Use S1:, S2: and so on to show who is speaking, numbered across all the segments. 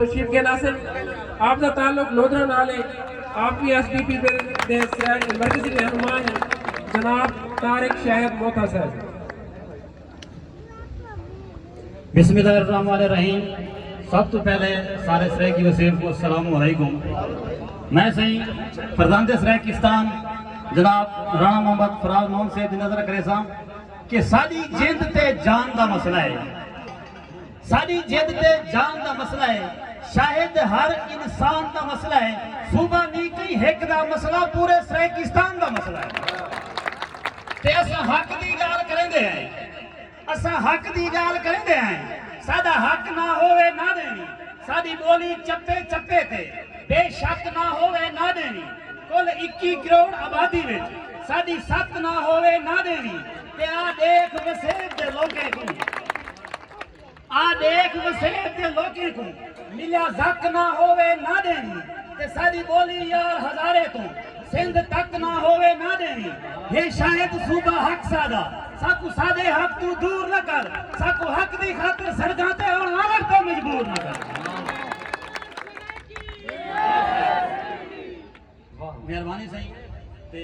S1: تشریف گن آسن آپ دا تعلق
S2: لودھرا نال ہے آپ وی ایس ڈی پی دے مرکزی رہنما ہیں جناب طارق شاہد موتھا صاحب بسم اللہ الرحمن الرحیم سب تو پہلے سارے سریکی وسیب کو السلام علیکم میں سہی فرزند سریکستان جناب رانا محمد فراز محمد سے نظر کرے سا کہ ساری جند تے جان دا مسئلہ ہے ساݙی جد تے جان دا مسئلہ اے شاہد ہر انسان دا مسئلہ اے صوبہ نی کئی ہک دا مسئلہ پورے سرائیکستان دا مسئلہ اے تے اساں حق دی ڳالھ کریندے ہیں اساں حق دی ڳالھ کریندے ہیں ساݙا حق نہ ہووے نہ ݙیویں ساݙی ٻولی چپے چپے تے بے شک نہ ہووے نہ ݙیویں کل اکی کروڑ آبادی وچ ساݙی ست نہ ہووے نہ ݙیویں تے آ ݙیکھ وسیب دے لوکیں کوں آ ݙیکھ وسیب دے لوکیں کوں ملیا زک نہ ہووے نہ ݙیویں تے ساݙی ٻولی یار ہزارے توں سندھ تک نہ ہووے نہ ݙیویں ہے شاید صوبہ حق ساݙا ساکوں ساݙے حق توں دور نہ کر ساکوں حق دی خاطر سڑکاں تے آن آوݨ تے مجبور نہ کر واہ مہربانی سئیں تے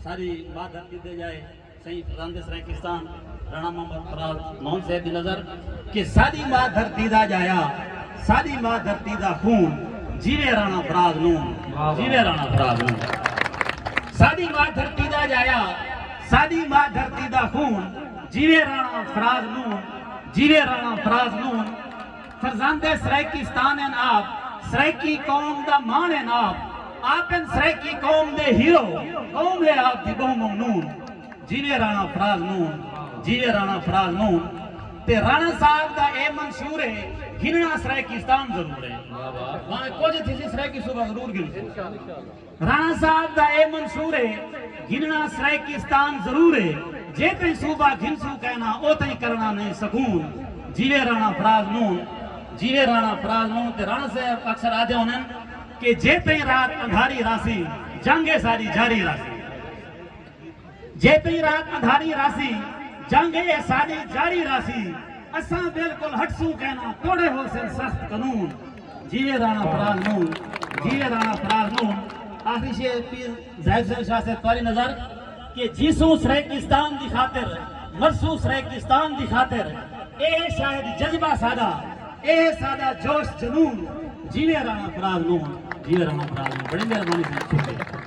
S2: ساری ماں دھرتی تے جائے سئیں فرزند سرائیکستان رانا محمد فراز مون صاحب دی نظر کہ ساری ماں دھرتی دا جایا ساری ماں دھرتی دا خون جیوے رانا فراز مون جیوے رانا فراز مون ساری ماں دھرتی دا جایا ساری ماں دھرتی دا خون جیوے رانا فراز مون جیوے رانا فراز مون فرزند سرائیکستان ہن آپ سرائیکی قوم دا ماݨ ہن آپ آپ ہن سرائیکی قوم دے ہیرو قوم ہے آپ دی ٻہوں ممنون جیوے رانا فراز مون جیوے رانا فراز مون تے رانا صاحب دا اے منشور ہے گھنݨا سرائیکستان ضرور ہے بھاویں کجھ تھیسی سرائیکی صوبہ ضرور گھنسوں رانا صاحب دا اے منصور اے گھننا سرائیکستان ضرور اے جے تئیں صوبہ گھن سوں کائنا او تئیں کرنا نئیں سکون جیوے رانا فراز نون جیوے رانا فراز نون تے رانا صاحب اکثر آدھے ہونن کہ جے تئیں رات اندھاری راسی جنگ اے ساڈی جاری راسی۔ جیتری رات اندھاری راہسی جنگ اے ساڈی جاری راہسی اساں بالکل ہٹسوں کینا توڑے ہوسن سخت قنون جیوے رانا پرال نون جیوے رانا پرال نون آخری شعر پیر زاہد حسین شاہ صاحب تواری نظر کہ جیسوں سریکستان دی خاطر مرسوں سریکستان دی خاطر اے ہے شاید جذبہ ساڈا اے ہے ساڈا جوش جنون جیوے رانا پرال نون جیوے رانا پرال نون بڑی مہربانی سنگ شکریہ